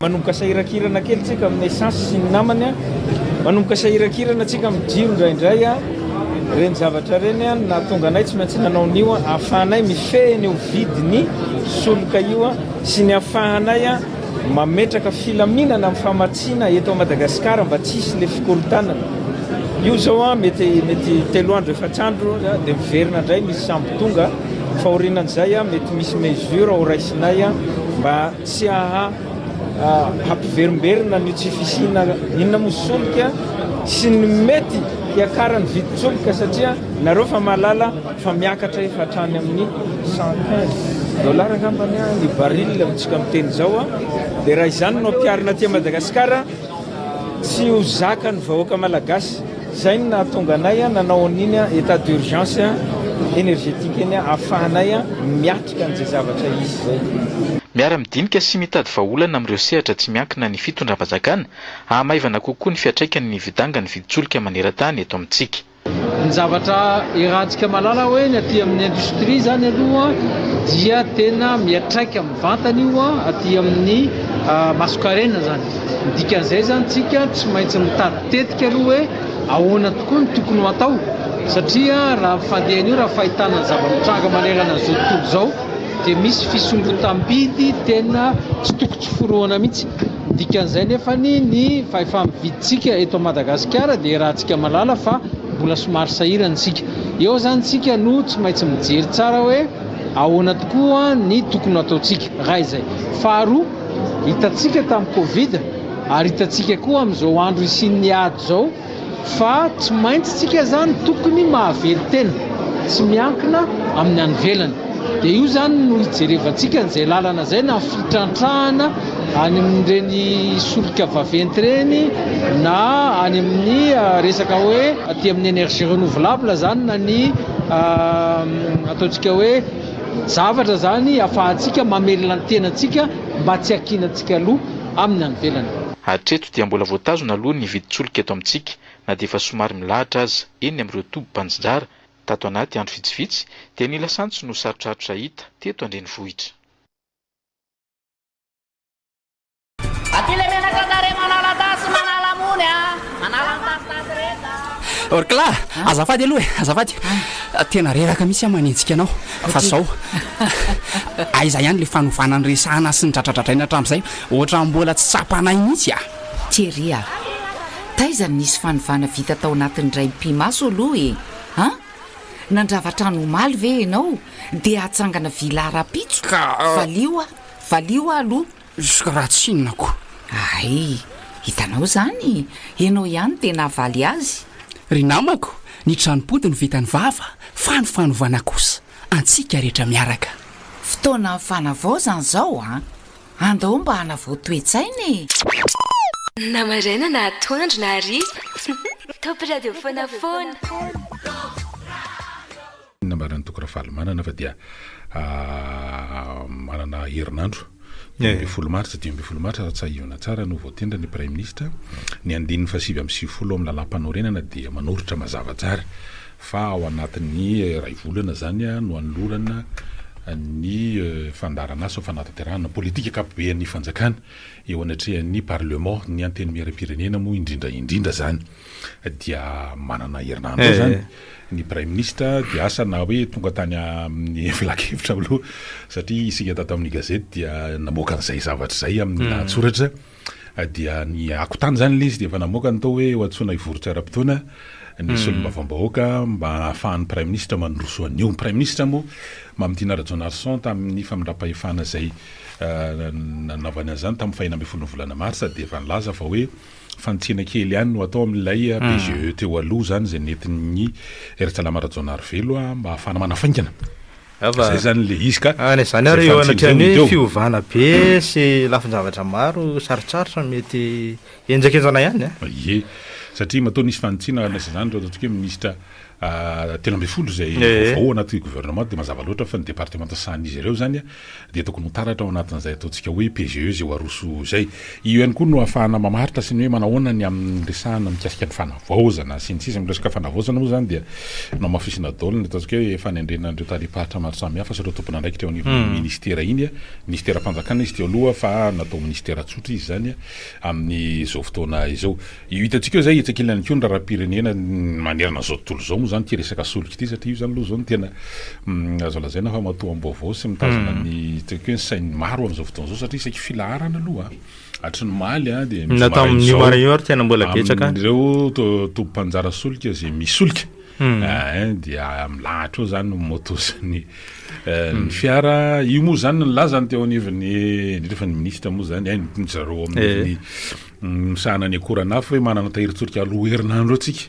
Manomboka sahiran-kirana kely tsika amin'ny essence sy ny namany a! Manomboka sahiran-kirana tsika amin'ny jiro indraindray a! Ireny zavatra ireny a! Nahatonga anay tsy maintsy nanao an'io a! Ahafahanay mifehy an'io vidin'ny solika io a! Sy ny ahafahanay a! Mametraka filaminana amin'ny famatsiana eto Madagasikara mba tsy hisy ilay fikorontanana. Io izao a! Mety, mety telo andro, efatra andro dia miverina indray misy sambo tonga. Fa aorianan'izay a! Mety misy mesure horaisinay a! Mba. Tsy aha hampiverimberina ny tsy fisiana inona moa solika sy ny mety hiakaran'ny vidin-tsolika satria nareo fa mahalala fa miakatra efa hatrany amin'ny cent quinze dollars angambany ny baril amintsika miteny izao dia raha izany no ampiharina aty Madagasikara Tsy ho zaka ny vahoaka malagasy. Zay no nahatonga anay nanao an'iny état d'urgence énergétique iny ahafahanay miatrika an'izay zavatra hisy zay. Miara-midinika sy mitady vahaolana amin'ireo sehatra tsy miankina ny fitondram-panjakana, hahamaivana kokoa ny fiantraikany ny hividangan'ny vidin-tsolika maneran-tany eto amintsika. Ny zavatra iarahantsika mahalala hoe ny aty amin'ny industrie izany aloha dia tena miatraika mivantana io aty amin'ny masonkarena izany. Ny dikan'izay izany tsika tsy maintsy mitady tetika aloha hoe ahoana tokoa ny tokony ho atao satria raha ny fandehany io raha fahitana ny zava-mitranga manerana an'izao tontolo izao dia misy fisondrotam-bidy tena tsy toko tsy forohana mihitsy. Ny dikan'izay nefany ny fahefa-mividintsika eto Madagasikara dia iarahantsika mahalala fa mbola somary sahirana isika. Eo izany isika no tsy maintsy mijery tsara hoe ahoana tokoa ny tokony ho ataontsika raha izay. Faharoa, hitantsika tamin'ny covid ary hitantsika koa amin'izao andro hisian'ny ady izao, Fa tsy maintsy tsika izany tokony mahavery tena, tsy miankina amin'ny any ivelany. Dia io izany no hijerevantsika an'izay lalana izay na fitrantrahana any amin'ireny solika vaventy ireny na any amin'ny resaka hoe aty amin'ny énergie renouvelable izany na ny ataontsika hoe zavatra izany afahantsika mamelona ny tenantsika mba tsy hakiana antsika aloha amin'ny any ivelany. dia mbola voatazona aloha ny vidin-tsolika eto amintsika na dia efa somary milahatra aza eny amin'ireo tobim-panjinjara, tato anaty andro vitsivitsy dia ny lasantsy no sarotrarotra hita teto an-drenivohitra. Aty le menaka kare manala tasy manala mony a! Manala ny tasitasy rehetra a! Orkla, azafady aloha e, azafady. Tena reraka mihitsy aho manenjika anao fa zao, aiza ihany le fanovana niresahana sy nidradradradraina hatramin'izay? Ohatran'ny mbola tsy tsapanay mihitsy ah! Thierry ah! Taiza no nisy fanovana vita tao anatin'ny raim-pimaso aloha e! An! Nandrava trano omaly ve ianao dia hatsangana villa rahampitso? Ka! Valio ah! Valio ah aloha! Juska raha tsinona ko! Ay! Hitanao izany! Ianao ihany dia nahavaly azy! Ry namako! Ny tranom-pody no vitan'ny vava fa ny fanovana kosa antsika rehetra miaraka! Fotoanan'ny fanavaozana izao an! Andao mba hanavao toe-tsaina e! Na maraina na atoandro na hariva, Top Radio foana foana. Nambaran'i Toky Rafalimanana fa dia manana herinandro dimy ambin'ny folo martsa, dimy ambin'ny folo martsa raha tsahivina tsara no voatendry ny Praiminisitra. Ny andininy fahasivy amby sivifolo ao amin'ny Lalàmpanorenana dia manoritra mazava tsara fa ao anatin'ny iray volana izany no hanolorana ny fandaharanasa fanatanterahana ny politika ankapoben'ny fanjakana eo anatrehan'ny parlement, ny antenimieram-pirenena moa indrindra indrindra izany dia manana herinandro izany ny praiminisitra dia asa na hoe tonga tany amin'ny filankevitra aloha satria isika tato amin'ny gazety dia namoaka an'izay zavatra izay amin'ny lahatsoratra. dia ny akontany izany ilay izy dia efa namoaka ny tao hoe ho antsoina hivoritry ara-potoana ny solombavambahoaka mba hahafahan'ny praiminisitra mandroso an'io. Ny praiminisitra moa Mamitiana Rajaonarison tamin'ny famindram-pahefana izay nanaovany an'izany tamin'ny fahena ambin'ny folon'ny volana marsa dia efa nilaza fa hoe fanitsiana kely ihany no atao amin'ilay PGE teo aloha izany izay nentin'ny Raitsalama Rajaonarivelo mba hahafahana manafaingana Zay zany le izy ka. Any zany ary eo anatrehan'ny hoe fiovana be sy lafin-javatra maro sarotsarotra mety henjakenjana ihany an. Ie, satria matoa nisy fanitsiana handraisa izany ireo ataontsika hoe minisitra telo ambin'ny folo izay vaovao ao anaty gouvernement dia mazava loatra fa ny departemanta sahanin'izy ireo izany dia tokony ho taratra ao anatin'izay ataontsika hoe PGE izay ho aroso izay. Io ihany koa no ahafahana mamaritra sy ny hoe manahoana ny amin'ny resahana mikasika ny fanavaozana sy ny sisa. Ny resaka fanavaozana moa izany dia namafisina daholo ny ataontsika hoe fanendrena an'ireo tarehi-paritra maro samihafa sy ireo tompon'andraikitra eo anivon'iny minisitera iny. Minisiteram-panjakana izy teo aloha fa natao minisitera tsotra izy izany amin'izao fotoana izao. Io hitantsika io izay etsy ankilany koa ny raharaham-pirenena manerana izao tontolo izao moa izany ity resaka solika ity satria io izany aloha izao no tena azo lazaina fa matoam-baovao sy mitazona ny ataoko hoe ny sain'ny maro amin'izao fotoana izao satria isaky filaharana aloha hatry ny omaly dia misy marain'izao amin'ireo tobim-panjara solika izay misy solika dia milahatra eo izany ny moto sy ny fiara. Io moa izany ny lazany teo anivon'ny, indrindra fa ny minisitra moa izany, ny zareo ao amin'ny misahana ny akoran'afo hoe manana tahirin-tsolika roa herinandro eo tsika,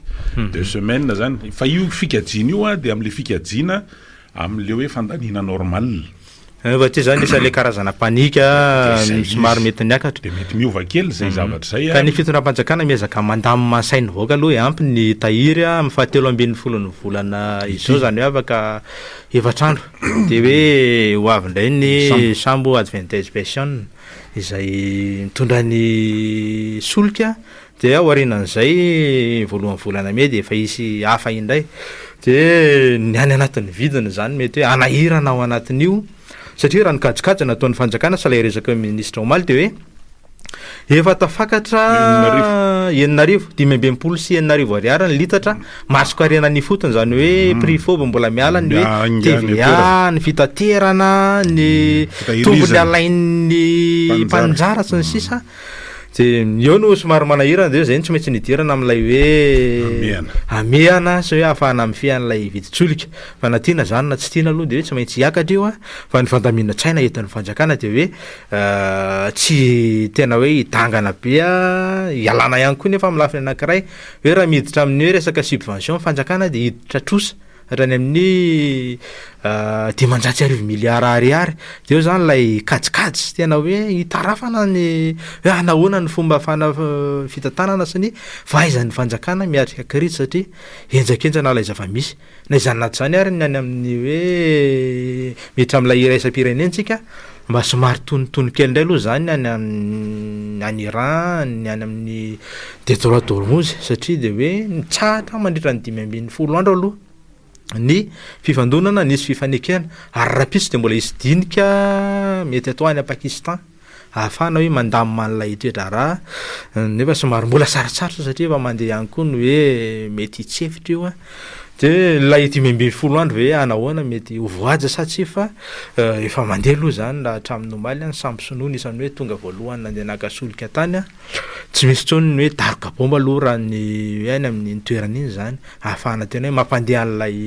deux semaines zany. Fa io fikajiana io an, dia amin'ilay fikajiana amin'ilay hoe fandaniana normale. Eh, fa tsy zany le sa le karazana panika Dia zay somary izy. mety niakatra. Dia mety miova kely zay zavatra zay Ka an. ny fitondram-panjakana miezaka mandamina ny sain'ny vahoaka aloha e, ampy ny tahiry an, amin'ny fahatelo ambin'ny folon'ny volana izao izany hoe afaka efatra andro dia hoe ho avy indray ny sambo adventesbation. izay mitondra ny solika dia aorianan'izay voalohan'ny volana mey dia efa hisy hafa indray dia ny any anatin'ny vidiny izany mety hoe hanahirana ao anatin'io satria raha ny kajikajy nataon'ny fanjakana sy ilay resaka ny minisitra omaly dia hoe efa tafakatra enina arivo dimy amby enimpolo sy enina arivo ariary ny litatra Masoko harena ny ifotony izany hoe mm. prix fob mbola miala ny hoe TVA, ny fitaterana, ny mm. tombony alain'ny mpanjara sy ny mm. sisa. Dia eo no somary manahirana dia izay no tsy maintsy nidirana amin'ilay hoe amehana sy hoe ahafahana mifehy an'ilay vidin-tsolika. Fa na tiana izany na tsy tiana aloha dia hoe tsy maintsy hiakatra io a. Fa ny fandamina tsaina entin'ny fanjakana dia hoe euh, tsy tena hoe hidangana be a, hialana ihany koa nefa amin'ny lafiny anankiray. Hoe raha miditra amin'ny hoe resaka subvention ny fanjakana dia hiditra trosa hatrany amin'ny ah, dimanjato sy arivo miliara ariary. Dia eo izany ilay kajikajy sy tena hoe hitarafana ny hoe ah, nahoana ny fomba fana- fitantanana sy ny fahaizan'ny fanjakana miatrika krizy satria henjakenjana ilay zava-misy. Na izany na izany ary ny any amin'ny hoe miditra amin'ilay iraisam-pirenentsika mba somary tonontono kely indray aloha izany ny any amin'ny any Iran, ny any amin'ny detroit d'Ormuz satria dia hoe nitsahatra mandritra ny dimy ambin'ny folo andro aloha ny fifandonana, nisy fifanekena ary rahampitso dia mbola hisy dinika mety atao any Pakistan. ahafahana hoe mandamina an'ilay toe-draharaha nefa somary mbola sarotsarotra satria efa mandeha ihany koa ny hoe mety hitsy efitra io a, de ilay dimy ambin'ny folo andro ve hanao ahoana mety ho voahaja sa tsia fa efa mandeha aloha zany raha hatramin'ny omaly a ny sambo sinoa anisan'ny hoe tonga voalohany nandeha naka solika tany a, tsy misy intsony ny hoe daroka baomba aloha raha ny hoe any amin'iny toerana iny zany ahafahana tena hoe mampandeha an'ilay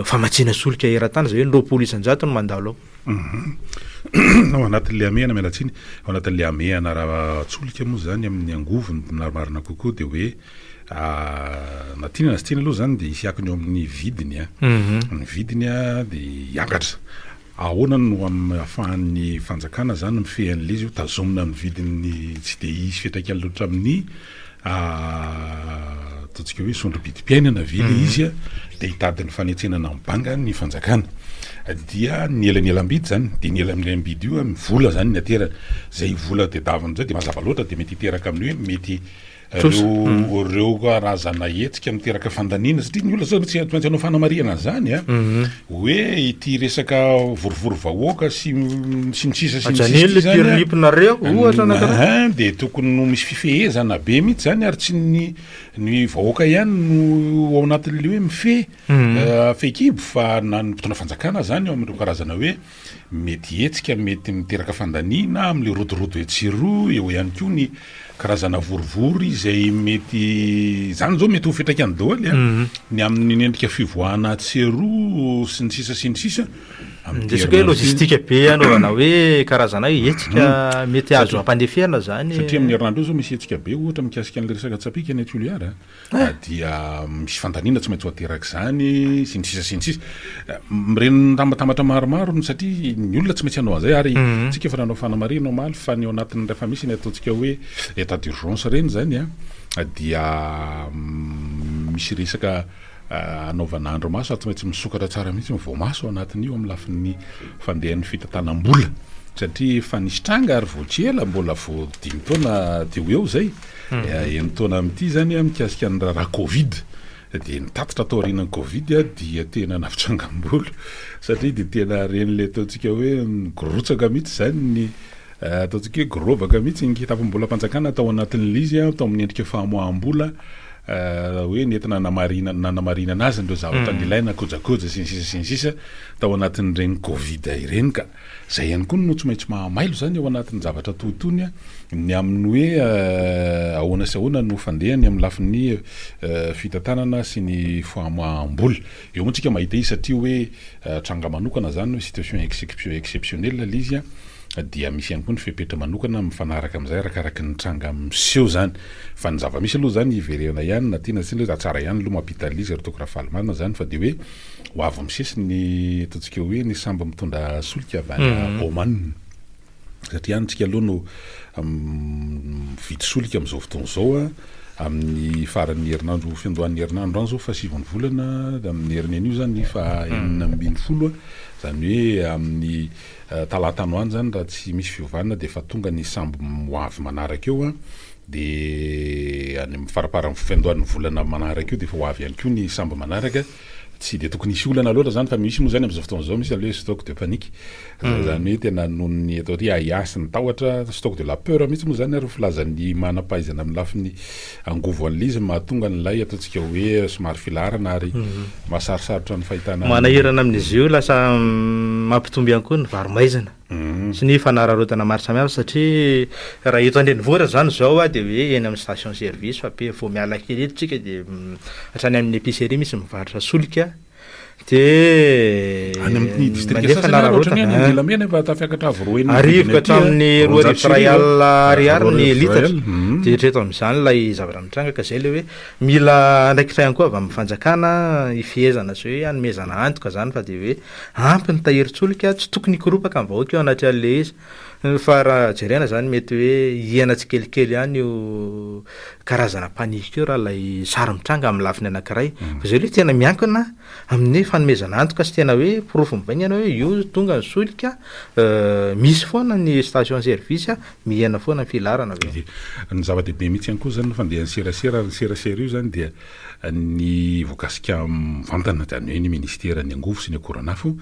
famatsiana solika eran-tany zay hoe ny roapolo isan-jato no mandalo ao. Ao anatin'ilay hamehana, miala tsiny, ao anatin'ilay hamehana ara-tsolika moa izany amin'ny angovo ny marimarina kokoa dia hoe na tiana na tsy tiana aloha izany dia hisy akony eo amin'ny vidiny a, mhm. ny vidiny a dia hiakatra. Ahoana no amin'ny ahafahan'ny fanjakana izany mifehy an'ilay izy io, tazomina amin'ny vidiny tsy dia hisy fiantraikany loatra amin'ny ataontsika hoe sondro-bidim-piainana ve ilay izy an, dia hitady ny fanetsenana amin'ny banga ny fanjakana, dia ny elanelam-bidy izany, dia ny elanelam-bidy io amin'ny vola izany ny aterany, izay vola tedavina amin'izay dia mazava loatra dia mety hiteraka amin'ny hoe mety ireo karazana hetsika miteraka fandaniana satria ny olona tsy maintsy hanao fanamarihana an'izany an, Hoe ity resaka vorivory vahoaka sy ny sisa sy ny sisa ity izany an, dia tokony ho misy fifehezana be mihitsy izany ary tsy ny ny vahoaka ihany no ao anatin'ilay hoe mifehy fehikibo fa na ny mpitondra fanjakana izany ao amin'ireo karazana hoe Mety hihetsika, mety miteraka fandaniana amin'ilay rodorodo etsy sy eroa, eo ihany koa ny karazana vorivory izay mety, izany izao mety ho fiantraikany daholo a, ny amin'ny endrika fivoahana atsy sy eroa sy ny sisa sy ny sisa, amin'ny Resaka hoe herinandro iny. logistique be anaovana hoe karazana hetsika mety azo ampandeferina izany. Satria amin'ny herinandro io izao misy hetsika be ohatra mikasika an'ilay resaka tsapìka any Toliara a. dia misy fandaniana tsy maintsy ho aterak'izany sy ny sisa sy ny sisa mireny tambatambatra maromaro ny satria ny olona tsy maintsy hanao an'izay ary mhm. tsika efa nanao fanamarihana omaly fa ny ao anatin'ny rehefa misy ny ataontsika hoe état d'urgence ireny zany a ah, dia mm, misy resaka ah, anaovana andro maso ary tsy maintsy misokatra tsara mihitsy ny voamaso ao anatin'io amin'ny lafin'ny fandehan'ny fitantanam-bola satria efa nisy tranga ary voatsy ela mbola vao dimy taona teo eo zay Enin-taona amin'ity izany mikasika ny raharaha covid dia ny tatitra taorianan'ny covid dia tena nampitrangambola satria dia tena ren'ilay ataontsika hoe nirotsaka mihitsy izany ny ataontsika hoe gorovaka mihitsy ny kitapom-bolam-panjakana tao anatin'ilay izy tao amin'ny endrika famoaham-bola hoe nentina namarinana nanamarinana azy ireo zavatra nilaina kojakoja sy ny sisa sy ny sisa tao anatin'ireny covid ireny ka Izay ihany koa no tsy maintsy mahamailo izany ao anatin'ny zavatra toa itony ny amin'ny hoe ahoana sy ahoana no fandehany amin'ny lafiny fitantanana sy ny famoaham-bola. Eo moa tsika mahita izy satria hoe tranga manokana izany hoe situation exceptionnelle ilay izy dia misy ihany koa ny fepetra manokana mifanaraka amin'izay arakaraky ny tranga miseho izany. Fa ny zava-misy aloha izany hiverena ihany na tiana na tsy tiana hoe tsara ihany aloha mampita an'ilay izy raha toa ka raha faly marina izany fa dia hoe Ho avy misesy ny ataontsika hoe ny sambo mitondra solika avy any Oman. Satria any isika aloha no mividy solika amin'izao fotoana izao amin'ny faran'ny herinandro, fiandohan'ny herinandro any izao fahasivan'ny volana, amin'ny herin'anio izany faha enina ambin'ny folo, izany hoe amin'ny Talata any ho any izany raha tsy misy fiovana dia efa tonga ny sambo hoavy manaraka eo an, dia any amin'ny faramparan'ny fiandohan'ny volana manaraka io dia efa ho avy ihany koa ny sambo manaraka, tsy dia tokony hisy olana loatra izany fa misy moa izany amin'izao fotoana izao misy aloha hoe stock de panique, izany hoe tena noho ny atao hoe ahiahy sy ny tahotra, stock de la peur mihitsy moa izany ary ny filazan'ny manam-pahaizana amin'ny lafiny Angovo an'ilay izy no mahatonga an'ilay ataontsika hoe somary filaharana ary mahasarisarotra ny fahitana an'ilay. Manahirana amin'izy io, lasa mampitombo ihany koa ny varo-maizina sy ny fanararaotana maro samihafa satria raha eto an-drenivohitra izany izao dia hoe eny amin'ny station service fa be vao miala kely eto isika dia hatrany amin'ny epicerie misy mivarotra solika, dia any amin'ny distrika mandefa sasany ary ohatran'ny hoe any nararaotana Andilamena efa tafiakatra avo roa enina Arivo vidiny ka aty, hatramin'ny roa roanjato arivo sy iray arivo, alina ah. ariary Roa ny arivo sy iray litatra. alina, mhm. Dia hatreto amin'izany ilay zavatra mitranga ka izay ilay hoe mila andraikitra ihany koa avy amin'ny fanjakana hifehezana sy hoe hanomezana antoka izany fa dia hoe ampy ny tahirin-tsolika, tsy tokony hikoropaka ny vahoaka eo anatrehan'ilay izy. Fa raha jerena zany mety hoe hihena tsikelikely ihany io karazana panique io raha ilay sary mitranga amin'ny lafiny anankiray. Mm. Fa izay aloha tena miankina amin'ny fanomezana antoka sy tena hoe porofo mivaingana hoe io tonga ny solika euh, misy foana ny station service mihena foana ny filarana avy eo. Ny zava-dehibe mihitsy ihany koa zany ny fandehan'ny serasera ary ny serasera io zany dia ny voakasika mivantana izany hoe ny minisitera ny angovo sy ny akoranafo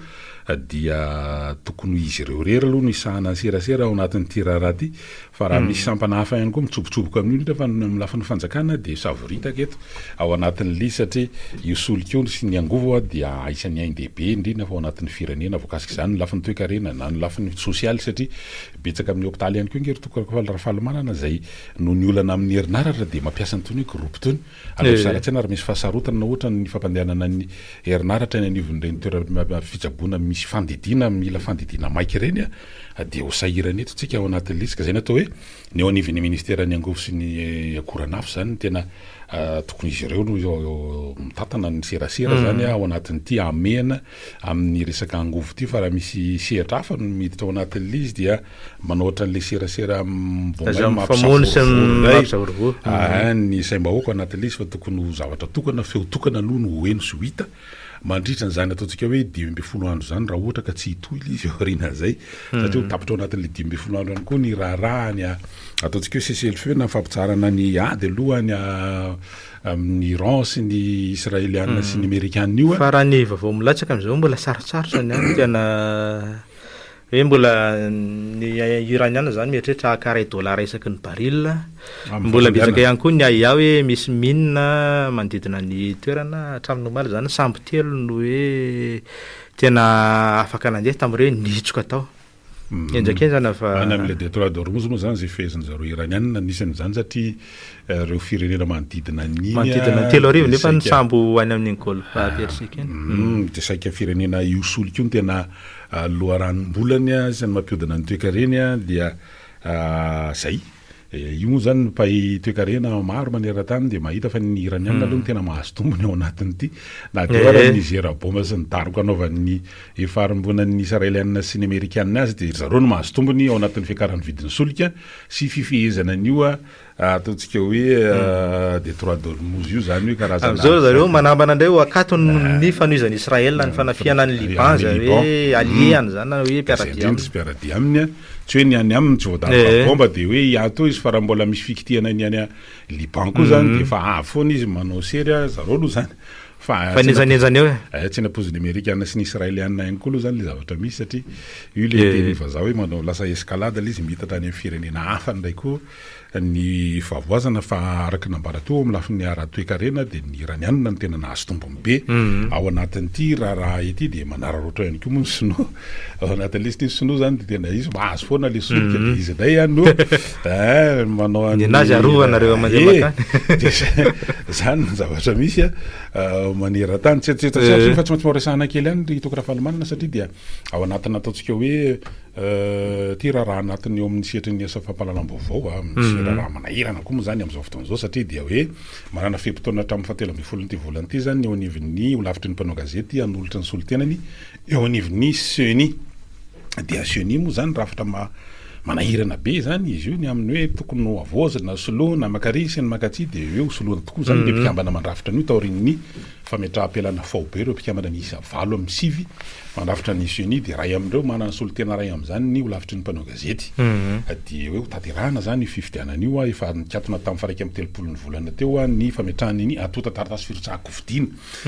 dia tokony ho izy ireo irery aloha no hisahana ny serasera ao anatin'ity raharaha ity fa raha misy sampana hafa ihany koa mitsobotsoboka amin'io nefa ny amin'ny lafiny fanjakana dia savoritaka eto ao anatin'ny lisy satria io solika io sy ny angovo dia isan'ny ain-dehibe indrindra fa ao anatin'ny firenena voakasika izany ny lafiny toekarena na ny lafiny sosialy satria betsaka amin'ny hopitaly ihany koa ange ry toko Rafalimanana izay noho ny olana amin'ny herinaratra dia mampiasa an'itony hoe groupe itony Aleo zara tsaina ary misy fahasarotana na ohatra ny fampandehanana ny herinaratra eny anivon'ireny toeram-pitsaboana misy fandidiana mila fandidiana maika ireny dia ho sahirana eto isika ao anatin'ny lisika. Izay no atao hoe ny eo anivon'ny minisiteran'ny Angovo sy ny akoranafo izany no tena tokony izy ireo no mitantana ny serasera izany ao anatin'ity hamehana amin'ny resaka angovo ity fa raha misy sehatra hafa no miditra ao anatin'ilay izy dia Manao ohatran'ilay serasera mivoamay mampisavorovoro indray ny saim-bahoaka ao anatin'ilay izy fa tokony ho zavatra tokana, feo tokana aloha no ho heno sy ho hita mandritra an'izany ataontsika hoe dimy ambin'ny folo andro izany raha ohatra ka tsy hitohy ilay izy aorianan'izay satria ho tapitra ao anatin'ilay dimy ambin'ny folo andro ihany koa ny raharaha ny ataontsika hoe cessez-le-feu na fampitsaharana ny ady aloha ny amin'ny Iran sy ny Israeliana sy ny Amerikana io. Fa raha ny vaovao milatsaka amin'izao mbola sarotsarotra ny any tena Hoe mbola ny Iraniana zany mieritreritra haka ray dollars isaky ny baril. Mbola betsaka ihany koa ny ahiahy hoe misy mine manodidina ny toerana. Hatramin'ny omaly izany sambo telo no hoe tena afaka nandeha tamin'ireo hoe nihitsoka tao. Henjakenjana fa. Any amin'ilay Détroit d'Ormuz moa izany izay feheziny zareo Iraniana, nisy an'izany satria ireo firenena manodidina an'iny manodidina ny telo arivo nefa ny sambo any amin'ny golfe ah, persique iny mm, dia saika firenena io solika io no tena ah, loharanom-bolany ah, sy ny mampiodina ny toekareny dia zay eh, io moa zany mpay toekarena maro maneran-tany dia mahita fa ny iraniana hmm. aloha no tena mahazo tombony ao anatin'ity na dia eh. ny zera boma sy ny daroka anaovan'ny efa arimbonan'ny israeliana sy ny amerikana azy dia zareo no mahazo tombony ao anatin'ny fiakaran'ny vidin'ny solika sy fifehezana an'io Ataontsika hoe euh, Détroit d'Ormuz io zany hoe karazana Amin'izao ry zareo manambana indray ho akatony ah. ny fanohizan'i Israël ny ah, fanafihana an'i Liban zany hoe hmm. allié-any zany na hoe mpiara-dia aminy. Indrindra mpiara-dia aminy a, tsy hoe ny any aminy tsy voadamba eh. bomba dia hoe hiato izy fa raha mbola misy fikitihana ny any Liban koa zany hmm. dia efa avy foana izy manao sery a, zareo aloha zany. Fa nenjanenjana eo. Eh, tsy nampoizin'ny Amerikana sy ny Israéliana ihany koa aloha zany le zavatra misy satria io le eh. teny vazaha hoe manao lasa escalade le izy miitatra any amin'ny firenena hafa ndray koa. Ny fahavoazana fa araka ny nambara teo amin'ny lafiny ara-toekarena dia ny Iraniana no tena nahazo tombony be ao anatin'ity raharaha ity dia manararaotra ihany koa moa ny Sinoa ao anatin'ny liste ny Sinoa izany dia tena izy mahazo foana ilay solika dia izy indray ihany no manao an'ny nenazy arovana ireo mandeha makany dia izany ny zavatra misy maneran-tany tsy tsy tsy fa tsy maintsy mba resahana kely ihany ry Toky Rafalimanana satria dia ao anatin'ny ataontsika hoe Ity raharaha anatiny eo amin'ny sehatry ny asa fampahalalam-baovao a, misy raharaha manahirana koa moa izany amin'izao fotoana izao satria dia hoe manana fe-potoana hatramin'ny fahatelo ambin'ny folon'ity volana ity izany ny eo anivon'ny holafitry ny mpanao gazety hanolotra ny solontenany eo anivon'ny Ceni. Dia Ceni moa izany rafitra manahirana be izany izy io ny amin'ny hoe tokony ho havaozina, soloina, maka aria sy ny maka atsy dia hoe hosoloina tokoa izany ilay mpikambana mandrafitra an'io taorian'ny Fametraham-pialana faobe ireo mpikambana miisa valo amin'ny sivy mandrafitra ny ceni dia iray amin'ireo manana solontena iray amin'izany ny holafitry ny mpanao gazety. Dia hoe hotanterahina izany io fifidianana io a. Efa nikatona tamin'ny faraika amin'ny telopolo ny volana teo a ny fametrahana ny antontan-taratasy firotsahan-kofidina.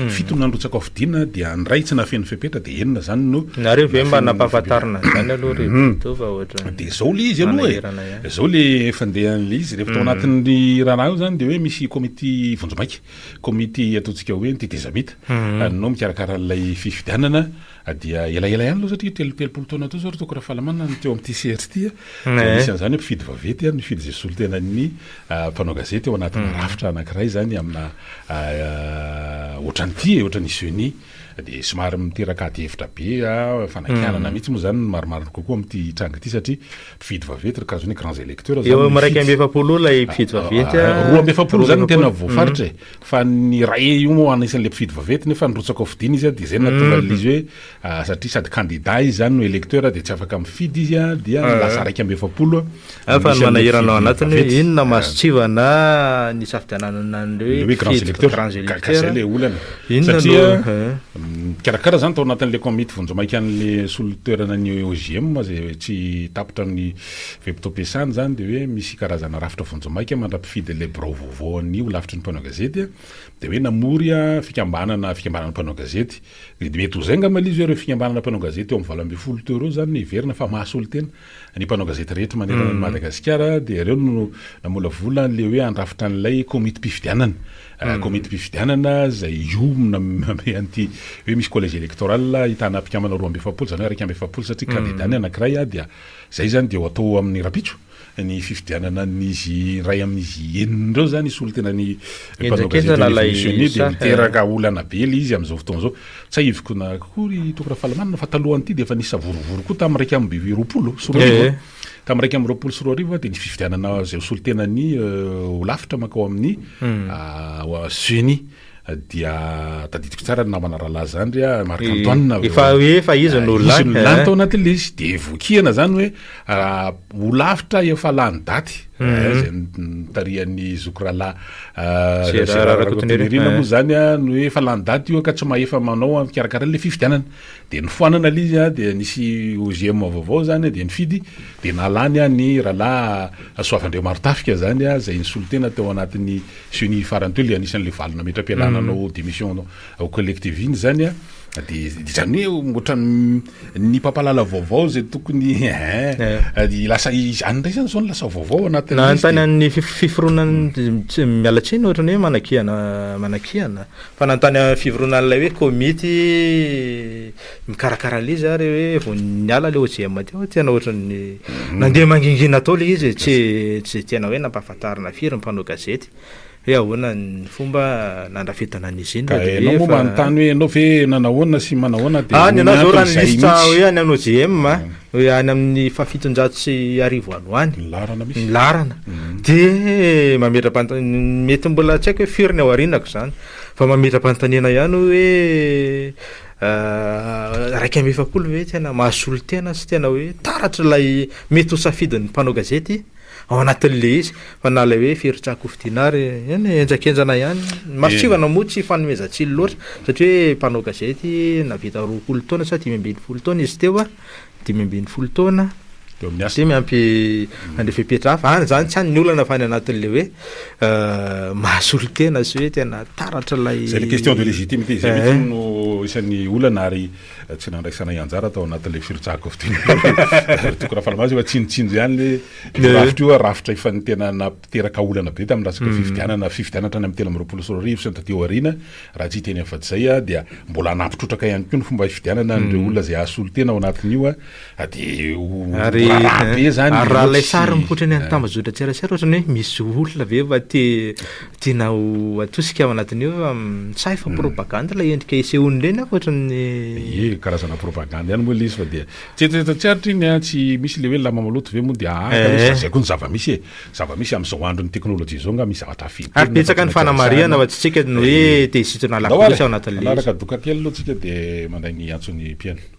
Fito no nandrotsaka ho fidina dia ny iray tsy nahafeno fepetra dia enina izany no Nareo ve mba nampahafantarina an'izany aloha re Bento fa ohatran'ny Dia izao ilay izy aloha e. manahirana ihany. Izao ilay fandehan'ilay izy. Rehefa tao anatin'ny raharaha io izany dia hoe misy komity vonjimaika. Komity ataontsika hoe ny tetezamita no mikarakara an'ilay fifidianana dia elaela ihany aloha satria telo telopolo taona teo izao ry Toky Rafahalamana no teo amin'ity sehatra ity a. Dia misy an'izany hoe mpifidy vaventy, mifidy izay solontenan'ny mpanao gazety ao anatina rafitra anankiray izany amina ohatran'ity e, ohatran'ny CENI. dia somary miteraka adihevitra be aho, fanakianana mihitsy moa izany no marimarina kokoa amin'ity tranga ity satria mpifidy vaventy ry kajo ny grands électeurs izany mifidy. Eo iraika amby efapolo eo ilay mpifidy vaventy a. Roa amby efapolo izany no tena voafaritra e, fa ny iray io moa anisan'ilay mpifidy vaventy nefa nirotsaka ho fidiana izy a, dia izay no nahatonga an'ilay izy hoe satria sady candidat izy izany no électeur dia tsy afaka mifidy izy a, dia lasa iraika amby efapolo Any fa ny manahirana ao anatiny hoe inona no mahasontsivana ny hisafidianana an'ireo hoe grands electeurs, gasy ilay olana, satria mikarakara izany tao anatin'ilay komity vonjimaikan'ilay solon-toerana ny OJM izay tsy tapitra amin'ny fe-potoam-piasany izany dia hoe misy karazana rafitra vonjimaika mandra-pifidy an'ilay birao vaovao an'ny holafitry ny mpanao gazety dia hoe namory fikambanana fikambanana mpanao gazety dia mety ho zay angamba ilay izy hoe ireo fikambanana mpanao gazety eo amin'ny valo ambin'ny folo teo ireo izany no heverina fa maha-solontena Ny mpanao gazety rehetra manerana an'i Madagasikara dia ireo no namolavola an'ilay hoe handrafitra an'ilay komitim-pifidianana. Ah, komitim-pifidianana izay hiomana am- amy an'ity hoe misy collège électoral ahitana mpikambana roa amby efapolo, izany hoe iraika amby efapolo satria kandida ny anankiray ah, dia izay izany dia ho atao amin'ny rahampitso ny fifidianana an'izy iray amin'izy enina ireo izany, hisolo tena ny mpanao gazety Henjakenjana ilay misomisioney dia saha, eh. miteraka olana be ilay izy amin'izao fotoana izao. Tsahiviko na koa ry Toky Rafalamanana fa talohan'ity dia efa nisy savorovoro koa tamin'ny iraika amby roapolo sy roa arivo a. Tamin'ny iraika amby roapolo sy roa arivo dia ny fifidianana izay ho solontenan'ny Holafitra mankao amin'ny ceni. Dia tadidiko tsara ny namana rahalahy izany ry a Marc Antoine. Efa hoe efa izy no lany. Izy no lany tao anatin'ilay izy. Dia vokiana izany hoe Ho lavitra efa lany daty izay nitarihan'ny zoky rahalahy Gérard Rakotonirina moa izany no hoe efa lany daty io ka tsy mahefa manao mikarakara ilay fifidianana. Dia nifoanana ilay izy dia nisy OGM vaovao izany dia nifidy dia nalany ny rahalahy Soavandriamarontafika izany izay nisolo tena tao anatin'ny ceni farany teo ilay anisan'ilay valo nametra-pialana nanao démission au collectif iny izany dia izany hoe ohatran'ny Ny mpampalala vaovao izay tokony eh, lasa izany indray izany izao no lasa vaovao anatin'ny Na lisitra. antany an'ny fif- fiforonan'ny tsy- miala tsiny ohatra ny hoe manakihana manakihana fa na antany amin'ny fivoronan'ilay hoe komity mikarakara ilay izy ary hoe vao niala ilay OJM teo tena ohatra ny nandeha mangingina tao ilay izy e, tsy tsy tena hoe nampahafantarina firy ny mpanao gazety. Hoe ahoana ny fomba nandrafetana an'i Eugène Ka ianao moa manontany hoe ianao ve nanahoana sy manahoana dia Any ianao zao raha ny liste hoe any amin'ny OJM a, hoe any amin'ny fahafitonjato sy arivo ano any, ny laharana misy, ny laharana, dia mametra-panota- mety mbola tsy haiko hoe firy ny ao aorianako izany, fa mametra-panontaniana ihany hoe iraika amby efapolo ve tena mahasolo tena sy tena hoe taratra ilay mety ho safidin'ny mpanao gazety? ao anatin'ilay izy fa na ilay hoe firotsahako ho fidiana ary eny e, henjakenjana ihany ny masontsivana moa tsy fanomezan-tsiny loatra satria hoe mpanao gazety navita roapolo taona sa dimy ambin'ny folo taona izy teo a dimy ambin'ny folo taona Eo amin'ny asa. dia miampy an'ilay fepetra hafa any izany tsy any ny olana fa any anatin'ilay hoe eh, mahasolotena sy hoe tena taratra ilay Izay le question de légitimité izay mihitsy no isan'ny olana ary Tsy nandraisanay anjara tao anatin'ilay firotsahako fiteny teo. Ry Toky Rafalimaso efa tsinotsinjo ihany le io rafitra io, rafitra efa ny tena nampiteraka olana be tamin'ny resaka fifidianana, fifidianana hatrany amin'ny telo amby roapolo sy roa arivo sy ny taty aoriana. Raha tsy hiteny afa-tsy izay aho dia mbola hanapy trotraka ihany koa ny fomba hifidianana an'ireo olona izay hahasolo tena ao anatin'io. a de ho Ary raharaha be zany ary raha ilay sary mihoatry- mihoatra ny an'ny tambajotran-tserasera ohatrany hoe misy olona ve va te tiana ho atosika ao anatin'io hoe fa mitsahy fa propagande ilay endrika isehoan'ireny aho ohatran'ny Ie, karazana propagande ihany moa ilay izy fa dia tsy eritreretina tsy aritra iny an, tsy misy ilay hoe lamba maloto ve moa dia aa, Eh. kanefa izay koa ny zava-misy e, zava-misy amin'izao andron'ny teknolojia izao nga misy zavatra hafa intelo Ary betsaka ny fanamarihana fa tsy tsika no hoe te hisintona Andao lafo loatra ary, ao anatin'ilay izy. hanaraka doka kely aloha tsika dia mandray ny antson'ny mpihaino.